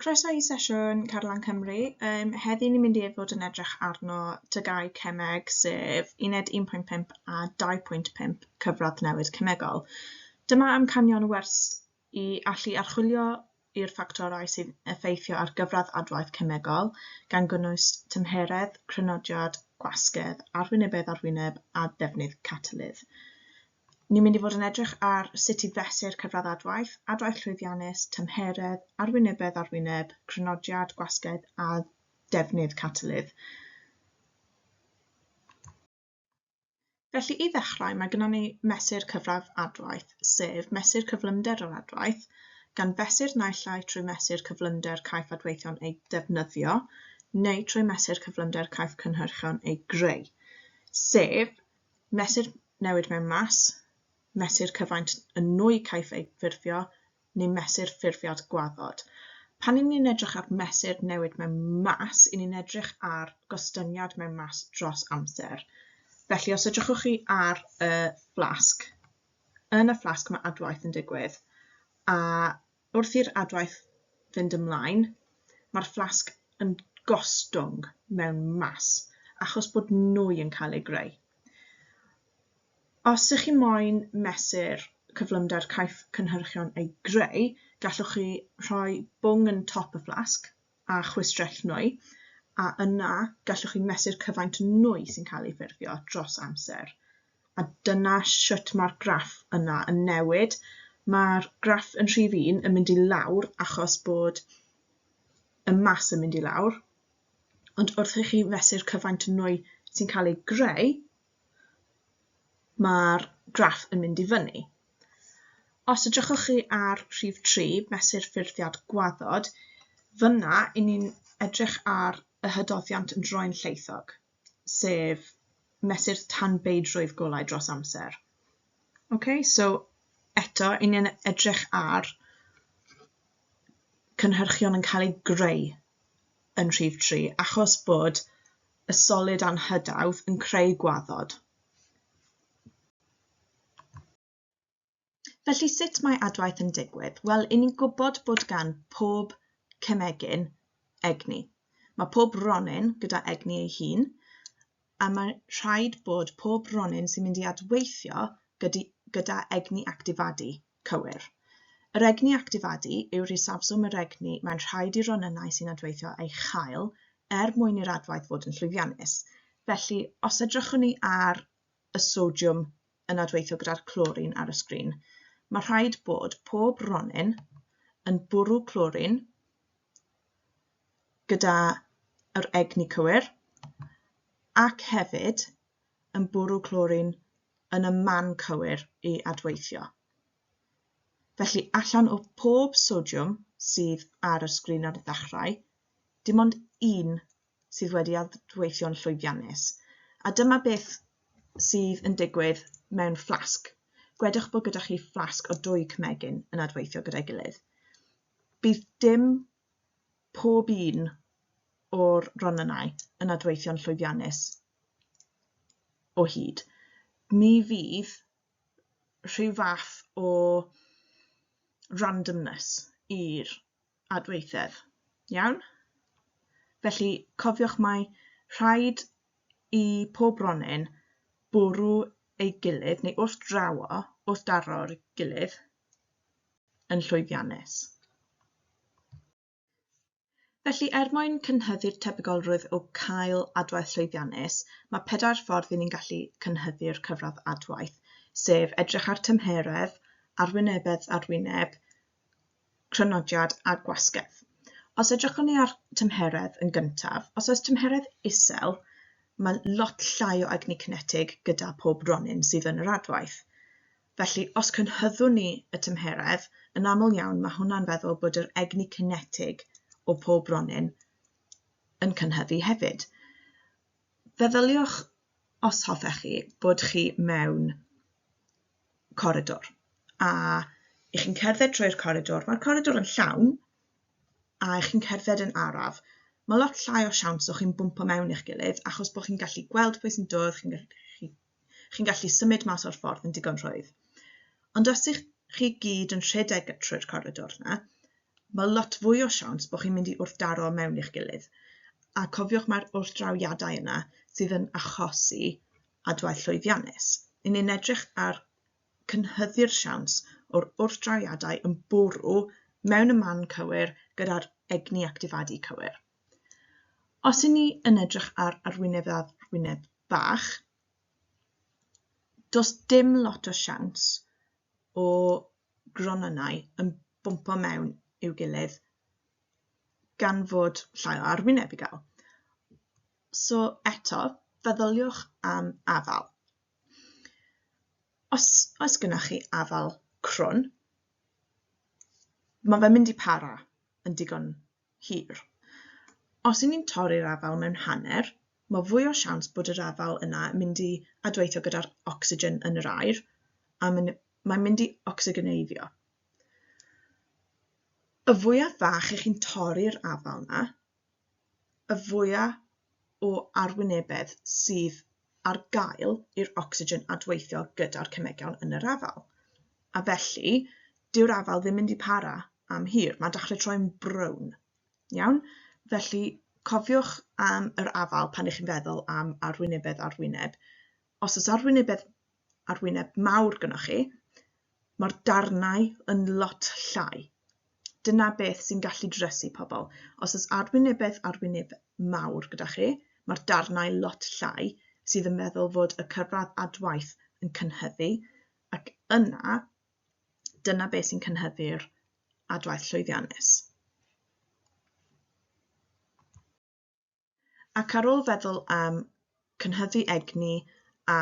Croeso i sesiwn Carlan Cymru. Um, heddi ni'n mynd i fod yn edrych arno tygau cemeg sef uned 1.5 a 2.5 cyfradd newid cemegol. Dyma amcanion wers i allu archwilio i'r ffactorau sy'n effeithio ar gyfradd adwaith cemegol, gan gynnwys tymheredd, crynodiad, gwasgedd, arwynebedd arwyneb a defnydd catalydd. Ni'n mynd i fod yn edrych ar sut i fesur cyfradd adwaith, adwaith llwyddiannus, tymheredd, arwynebedd ar wyneb, crynodiad, gwasgedd a defnydd catalydd. Felly, i ddechrau, mae gennym ni mesur cyfradd adwaith, sef mesur cyflymder yr adwaith, gan fesur naill ai trwy mesur cyflymder caiff adweithion eu defnyddio neu trwy mesur cyflymder caiff cynhyrchion eu greu, sef Mesur newid mewn mas, mesur cyfaint y nwy caiff ei ffurfio, neu mesur ffurfiad gwaddod. Pan i ni'n edrych ar mesur newid mewn mas, i ni'n edrych ar gostyngiad mewn mas dros amser. Felly, os edrychwch chi ar y fflasg, yn y fflasg mae adwaith yn digwydd, a Wrth i'r adwaith fynd ymlaen, mae'r fflasg yn gostwng mewn mas achos bod nwy yn cael ei greu. Os ych chi moyn mesur cyflymder caiff cynhyrchion ei greu, gallwch chi rhoi bwng yn top y fflasg, a chwistrellu, a yna gallwch chi mesur cyfaint nwy sy'n cael ei ffurfio dros amser. A dyna sut mae'r graff yna yn newid. Mae'r graff yn rhif un yn mynd i lawr achos bod y mas yn mynd i lawr, ond wrth i chi fesur cyfaint nwy sy'n cael ei greu, mae'r graff yn mynd i fyny. Os edrychwch chi ar rhif 3, mesur ffurfiad gwaddod, fyna i ni'n edrych ar y hydoddiant yn droi'n lleithog, sef mesur tanbeidrwydd golau dros amser. Okay, so eto, i ni'n edrych ar cynhyrchion yn cael eu greu yn rhif 3, achos bod y solid anghydawdd yn creu gwaddod. Felly sut mae adwaith yn digwydd? Wel, i ni'n gwybod bod gan pob cemegyn egni. Mae pob ronyn gyda egni ei hun, a mae rhaid bod pob ronyn sy'n mynd i adweithio gyda egni actifadu Cywir. Yr egni actifadu yw'r isafswm yr egni mae'n rhaid i'r ronynnau sy'n adweithio ei chael er mwyn i'r adwaith fod yn llwyddiannus. Felly, os edrychwn ni ar y sodiwm yn adweithio gyda'r clorin ar y sgrin, mae rhaid bod pob ronyn yn bwrw clorin gyda yr egni cywir ac hefyd yn bwrw clorin yn y man cywir i adweithio. Felly allan o pob sodiwm sydd ar y sgrin ar y ddechrau, dim ond un sydd wedi adweithio'n llwyddiannus. A dyma beth sydd yn digwydd mewn fflasg. Gwedwch bod gyda chi fflasg o dwy cymegyn yn adweithio gyda'i gilydd. Bydd dim pob un o'r ronynnau yn adweithio'n llwyddiannus o hyd, ni fydd rhyw fath o randomness i'r adweithedd. Iawn? Felly, cofiwch mai rhaid i pob ronyn bwrw ei gilydd, neu wrth draw o, wrth daro'r gilydd, yn llwyddiannus. Felly, er mwyn cynhyddu'r tebygolrwydd o cael adwaith llwyddiannus, mae pedair ffordd i ni'n gallu cynhyddu'r cyfradd adwaith, sef edrych ar tymheredd, arwynebedd ar wyneb, crynodiad a gwasgedd. Os edrychwn ni ar tymheredd yn gyntaf, os oes tymheredd isel, mae lot llai o egni cinetig gyda pob ronyn sydd yn yr adwaith. Felly, os cynhyddwn ni y tymheredd, yn aml iawn mae hwnna'n feddwl bod yr egni cinetig o pob ronyn yn cynhyddu hefyd. Feddyliwch, os hoffech chi, bod chi mewn coridor a ych chi'n cerdded trwy'r coridor, mae'r coridor yn llawn a ych chi'n cerdded yn araf, mae lot llai o siawns o chi'n bwmpo mewn i'ch gilydd achos bod chi'n gallu gweld pwy sy'n dod, chi'n gallu Chi'n gallu symud mas o'r ffordd yn digon rhwydd. Ond os ych chi gyd yn rhedeg trwy'r coridor yna, mae lot fwy o siawns bod chi'n mynd i wrthdaro mewn i'ch gilydd. A cofiwch mae'r wrthdrawiadau yna sydd yn achosi adwaith llwyddiannus. Yn ni'n edrych ar cynhyddu'r siawns o'r wrthdrawiadau yn bwrw mewn y man cywir gyda'r egni actifadu cywir. Os i ni yn edrych ar arwyneb a arwyneb bach, does dim lot o siawns o gronynnau yn bwmpo mewn i'w gilydd gan fod llai o arwyneb i gael. So eto, feddyliwch am afal. Os oes gennych chi afal crwn, mae fe'n mynd i para yn digon hir. Os y'n ni'n torri'r afael mewn hanner, mae fwy o siawns bod yr afael yna yn mynd i adweithio gyda'r ocsigen yn yr aer, a mae'n mynd i ocsigeneiddio. Y fwyaf fach i chi'n torri'r afael yna, y fwyaf o arwynebedd sydd ar gael i'r ocsigen adweithio gyda'r cemegion yn yr afal. A felly, dyw'r afal ddim mynd i para am hir. Mae'n dechrau troi'n brown. Iawn? Felly, cofiwch am yr afal pan ych chi'n feddwl am arwynebedd arwyneb. Os oes arwynebedd ar wyneb mawr gynnwch chi, mae'r darnau yn lot llai. Dyna beth sy'n gallu dresu pobl. Os oes arwynebedd arwyneb mawr gyda chi, mae'r darnau lot llai sydd yn meddwl fod y cyfradd adwaith yn cynhyddu ac yna dyna beth sy'n cynhyddu'r adwaith llwyddiannus. Ac ar ôl feddwl am cynhyddu egni a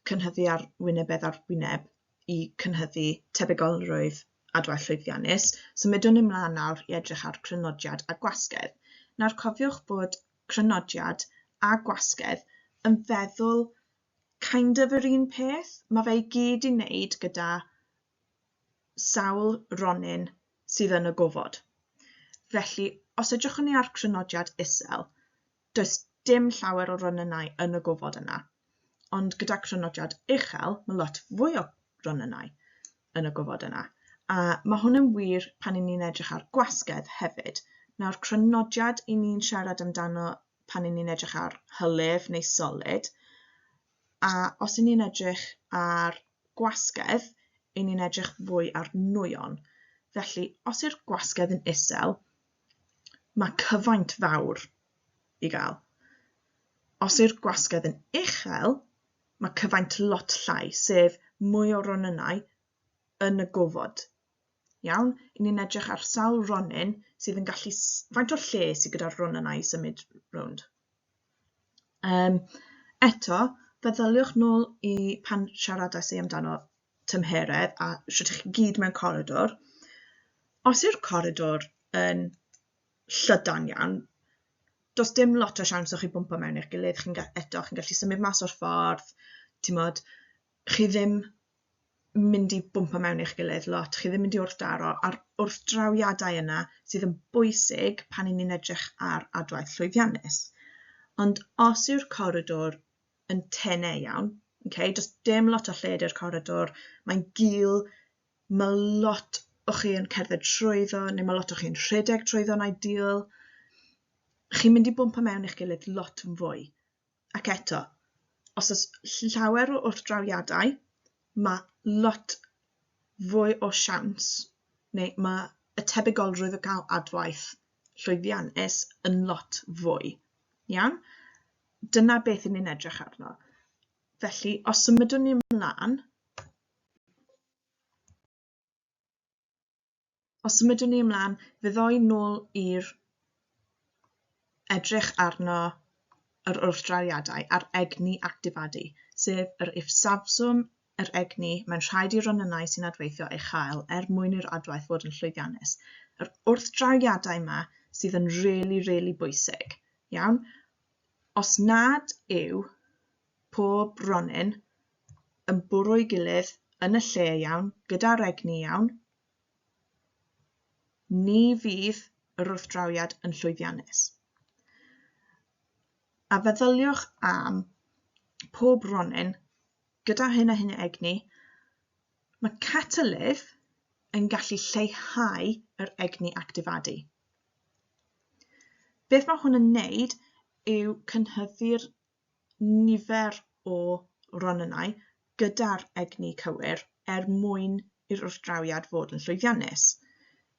chynhyddu ar wynebedd ar wyneb i cynhyddu tebygolrwydd adwaith llwyddiannus, symudwn ni mlaen nawr i edrych ar grynodiad a gwasgedd. Nawr cofiwch bod crynodiad a gwasgedd yn feddwl kind of yr un peth, mae fe i gyd i wneud gyda sawl ronyn sydd yn y gofod. Felly, os edrychwn ni ar crynodiad isel, does dim llawer o ronynnau yn y gofod yna. Ond gyda crynodiad uchel, mae lot fwy o ronynnau yn y gofod yna. A mae hwn yn wir pan i ni'n edrych ar gwasgedd hefyd. Nawr, crynodiad i ni'n siarad amdano pan i ni'n edrych ar hylif neu solid, A os y'n ni'n edrych ar gwasgedd, y'n ni'n edrych fwy ar nwyon. Felly, os yw'r gwasgedd yn isel, mae cyfaint fawr i gael. Os yw'r gwasgedd yn uchel, mae cyfaint lot llai, sef mwy o ronynnau yn y gofod Iawn, i ni'n edrych ar sawl ronyn sydd yn gallu... faint o'r lle sydd gyda'r run yna i symud rownd. Um, eto, feddyliwch nôl i pan siaradais ei amdano tymheredd a sut chi gyd mewn coridor. Os yw'r coridor yn llydan iawn, does dim lot o siawns o chi bwmpa mewn eich gilydd, chi'n eto chi'n gallu symud mas o'r ffordd, ti'n modd, chi ddim mynd i bwmpo mewn i'ch gilydd lot, chi ddim mynd i wrthdaro a'r wrthdrawiadau yna sydd yn bwysig pan i ni'n edrych ar adwaith llwyddiannus. Ond os yw'r coridor yn tene iawn, okay, does dim lot o lled i'r coridor, mae'n gul, mae lot o chi yn cerdded trwyddo neu mae lot o chi'n rhedeg trwyddo'n ideal, chi'n mynd i bwmpo mewn i'ch gilydd lot yn fwy. Ac eto, os oes llawer o wrthdrawiadau, mae lot fwy o siawns, neu mae y tebygolrwydd o gael adwaith llwyddiannus yn lot fwy. Iawn? Dyna beth yn ni'n edrych arno. Felly, os symudwn ni ymlaen, Os symudwn ni ymlaen, fe ddoi nôl i'r edrych arno yr wrthdrawiadau a'r egni actifadu, sef yr ifsafswm yr egni mae'n rhaid i'r ronynnau sy'n adweithio ei chael er mwyn i'r adwaith fod yn llwyddiannus. Yr wrthdrawiadau yma sydd yn really, really bwysig. Iawn? Os nad yw pob ronin yn bwrw'i gilydd yn y lle iawn, gyda'r egni iawn, ni fydd yr wrthdrawiad yn llwyddiannus. A feddyliwch am pob ronin gyda hyn a hyn o egni, mae catalydd yn gallu lleihau yr egni actifadu. Beth mae hwn yn wneud yw cynhyddu'r nifer o ronynnau gyda'r egni cywir er mwyn i'r wrthdrawiad fod yn llwyddiannus.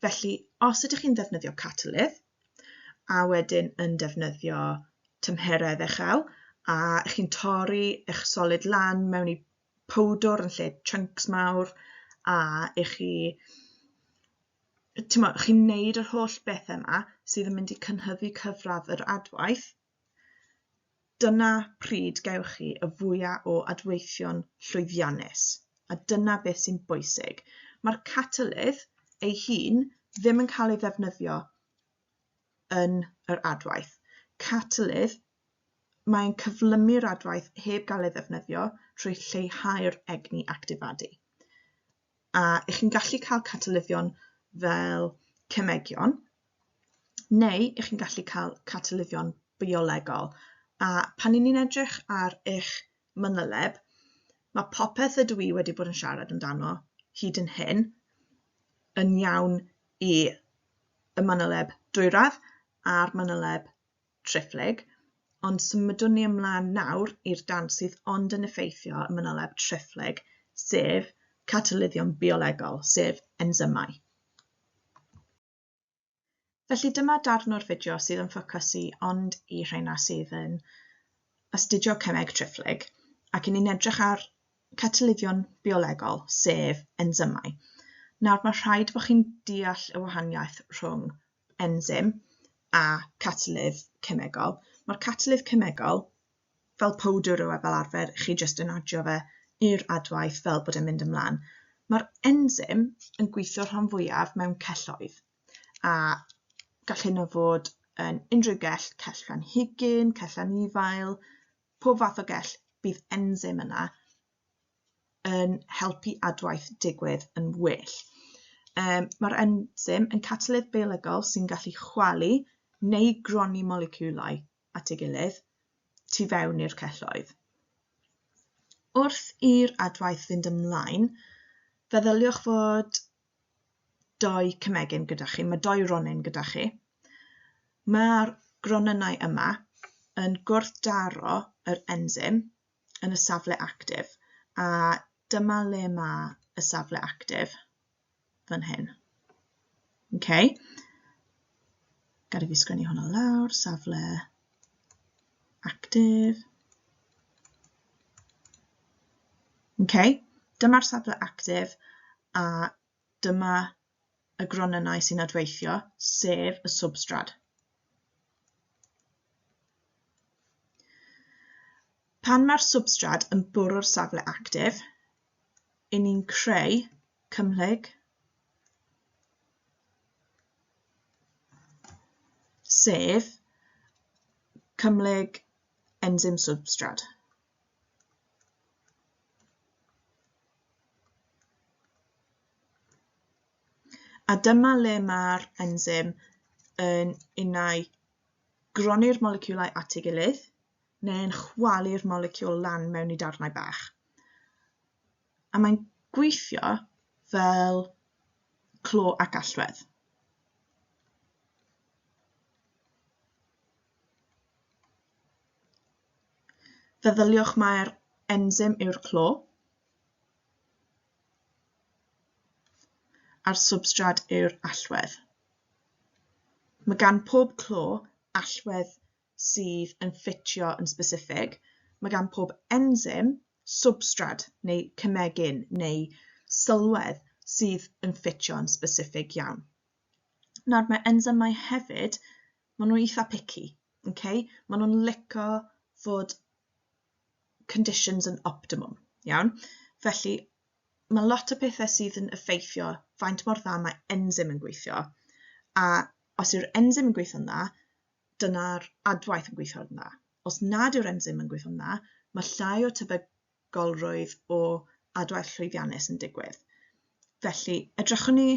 Felly, os ydych chi'n ddefnyddio catalydd, a wedyn yn defnyddio tymheredd uchel, a chi'n torri eich solid lan mewn i powdwr yn lle chunks mawr, a i chi chi'n neud yr holl bethau yma sydd yn mynd i cynhyddu cyfradd yr adwaith, Dyna pryd gewch chi y fwya o adweithion llwyddiannus, a dyna beth sy'n bwysig. Mae'r catalydd ei hun ddim yn cael ei ddefnyddio yn yr adwaith. Catalydd, mae'n cyflymu'r adwaith heb gael ei ddefnyddio trwy lleihau'r egni actifadu. a ych chi'n gallu cael catalyddion fel cemegion, neu ych chi'n gallu cael catalyddion biolegol. A pan i ni'n edrych ar eich manyleb, mae popeth ydw i wedi bod yn siarad amdano hyd yn hyn yn iawn i y manyleb dwyradd a'r manyleb triphlyg, ond symudwn ni ymlaen nawr i'r dan sydd ond yn effeithio y manyleb triphlyg, sef catalyddion biolegol, sef ensymau. Felly dyma darn o'r fideo sydd yn ffocysu ond i rheina sydd yn astudio cemeg triphlyg ac yn ni'n edrych ar catalyddion biolegol, sef ensymau. Nawr mae rhaid bod chi'n deall y wahaniaeth rhwng enzym a catalydd cemegol. Mae'r catalydd cemegol fel powdr yw e fel arfer, chi jyst yn adio fe i'r adwaith fel bod e'n mynd ymlaen. Mae'r enzym yn gweithio rhan fwyaf mewn celloedd a gall hyn o fod yn unrhyw gell, cell rhan higyn, cell anifail, pob fath o gell, bydd enzym yna yn helpu adwaith digwydd yn well. Um, Mae'r enzym yn catalydd biolegol sy'n gallu chwalu neu gronni moleciwlau at ei gilydd tu fewn i'r celloedd. Wrth i'r adwaith fynd ymlaen, feddyliwch fod doi cymegyn gyda chi, mae doi ronyn gyda chi. Mae'r gronynnau yma yn gwrthdaro yr enzym yn y safle actif a dyma le mae y safle actif fan hyn. Okay. Gada fi sgwennu hwnna lawr, safle actif. Okay. Dyma'r safle actif a dyma y gronynnau sy'n adweithio, sef y swbstrad. Pan mae'r swbstrad yn bwrw'r safle actif, yn ni'n creu cymhlyg sef cymhlyg enzym swbstrad. A dyma le mae'r enzym yn unau groni'r moleciwlau at ei gilydd neu'n chwalu'r moleciwl lan mewn i darnau bach. A mae'n gweithio fel clo ac allwedd. Feddyliwch mai'r ensym yw'r clo a'r swbstrad yw'r allwedd. Mae gan pob clo allwedd sydd yn ffitio yn sbesiffig, mae gan pob ensym swbstrad neu cemegyn neu sylwedd sydd yn ffitio yn sbesiffig iawn. Nawr mae ensymau hefyd maen nhw'n eitha picky, okay? maen nhw'n lico fod conditions yn optimum, iawn? Felly, mae lot o pethau sydd yn effeithio faint mor dda mae enzym yn gweithio, a os yw'r enzym yn gweithio'n dda, dyna'r adwaith yn gweithio'n dda. Os nad yw'r enzym yn gweithio'n dda, mae llai o tybed golrwydd o adwaith llwyddiannus yn digwydd. Felly, edrychwn ni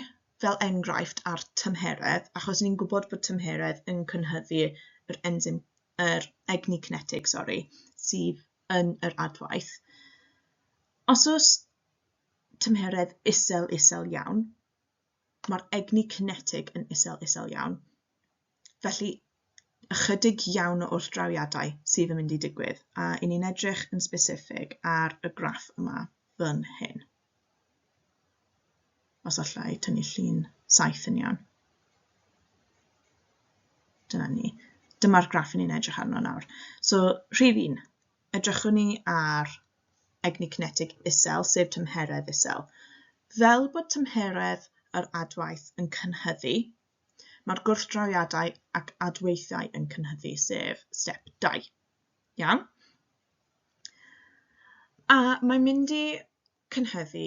fel enghraifft ar tymheredd, achos ni'n gwybod bod tymheredd yn cynhyddu yr enzym, yr egni cinetig, sori, sydd yn yr adwaith. Os oes tymheredd isel isel iawn, mae'r egni cinetig yn isel isel iawn. Felly, ychydig iawn o wrthdrawiadau sydd yn mynd i digwydd, a i ni'n edrych yn specific ar y graff yma fan hyn. Os allai tynnu llun saith yn iawn. Dyna ni. Dyma'r graff ni'n edrych arno nawr. So, rhif un, edrychwn ni ar egni cinetig isel, sef tymheredd isel. Fel bod tymheredd yr adwaith yn cynhyddu, Mae'r gwrthdrawiadau ac adweithiau yn cynhyddu, sef step 2. Iawn? A mae'n mynd i cynhyddu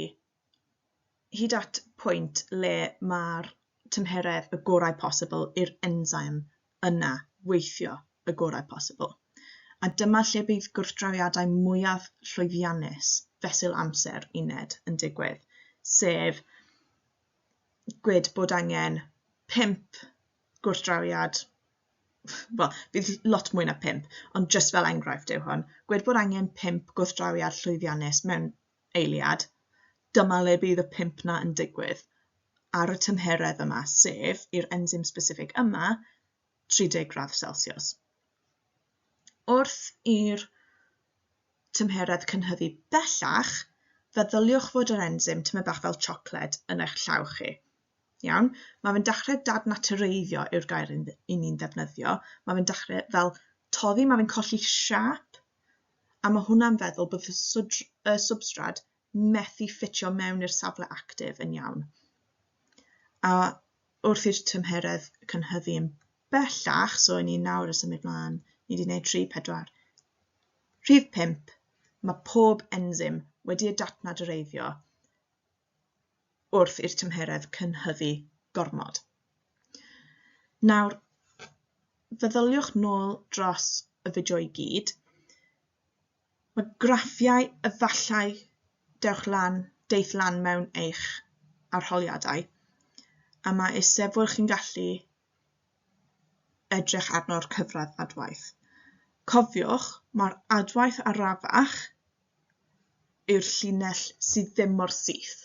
hyd at pwynt le mae'r tymheredd y gorau posibl i'r enzyme yna weithio y gorau posibl. A dyma lle bydd gwrthdrawiadau mwyaf llwyddiannus fesul amser uned yn digwydd, sef gwed bod angen pump gwrthdrawiad, wel, bydd lot mwy na pump, ond jyst fel enghraifft yw hwn, gwed bod angen pump gwrthdrawiad llwyddiannus mewn eiliad, dyma le bydd y pump na yn digwydd ar y tymheredd yma, sef i'r enzim specific yma 30 gradd Celsius. Wrth i'r tymheredd cynhyddu bellach, feddyliwch fod yr enzym tymed bach fel siocled yn eich llaw chi. Iawn? Mae fe'n dechrau dadnatureiddio yw'r gair yn ni'n ddefnyddio. Mae fe'n dechrau fel toddi, mae fe'n colli siap, a mae hwnna'n feddwl bod y, y substrad methu ffitio mewn i'r safle actif yn iawn. A wrth i'r tymheredd cynhyddu yn bellach, so i ni nawr y symud mlaen, ni wedi gwneud 3, 4, rhif 5, mae pob enzym wedi ei datnadreiddio wrth i'r tymheredd cynhyddu gormod. Nawr, feddyliwch nôl dros y fideo i gyd. Mae graffiau efallai dewch lan, deith lan mewn eich arholiadau, a mae eisebwyr chi'n gallu edrych arno'r cyfradd adwaith. Cofiwch, mae'r adwaith arafach yw'r llinell sydd ddim mor syth.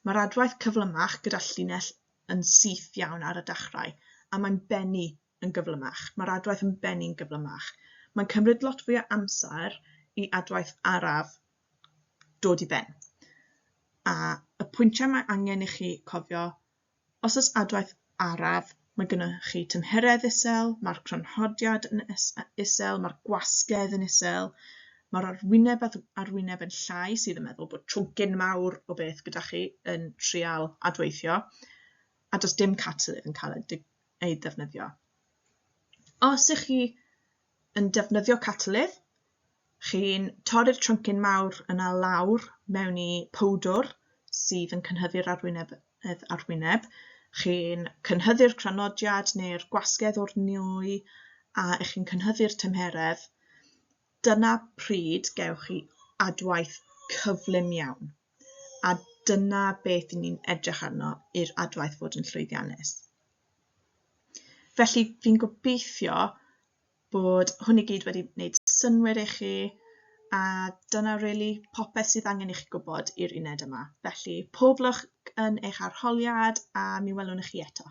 Mae'r adwaith cyflymach gyda llinell yn syth iawn ar y dechrau, a mae'n bennu yn gyflymach, mae'r adwaith yn bennu'n gyflymach. Mae'n cymryd lot fwy o amser i adwaith araf dod i ben. A y pwyntiau mae angen i chi cofio, os oes adwaith araf, mae gennych chi tymheredd isel, mae'r crynhodiad yn isel, mae'r gwasgedd yn isel, mae'r arwyneb a'r arwyneb yn llai sydd yn meddwl bod trwgyn mawr o beth gyda chi yn trial adweithio, a does dim catalydd yn cael ei ei ddefnyddio. Os ych chi yn defnyddio catalydd, chi'n torri'r tryncyn mawr yna lawr mewn i powdwr sydd yn cynhyddu'r arwyneb, arwyneb. chi'n cynhyddu'r cranodiad neu'r gwasgedd o'r nwy a ych chi'n cynhyddu'r tymheredd, dyna pryd gewch chi adwaith cyflym iawn. a dyna beth i ni'n edrych arno i'r adwaith fod yn llwyddiannus. Felly fi'n gobeithio bod hwn i gyd wedi wneud synwyr i chi a dyna really popeth sydd angen i chi gwybod i'r uned yma. Felly pob lwc yn eich arholiad a mi welwn i chi eto.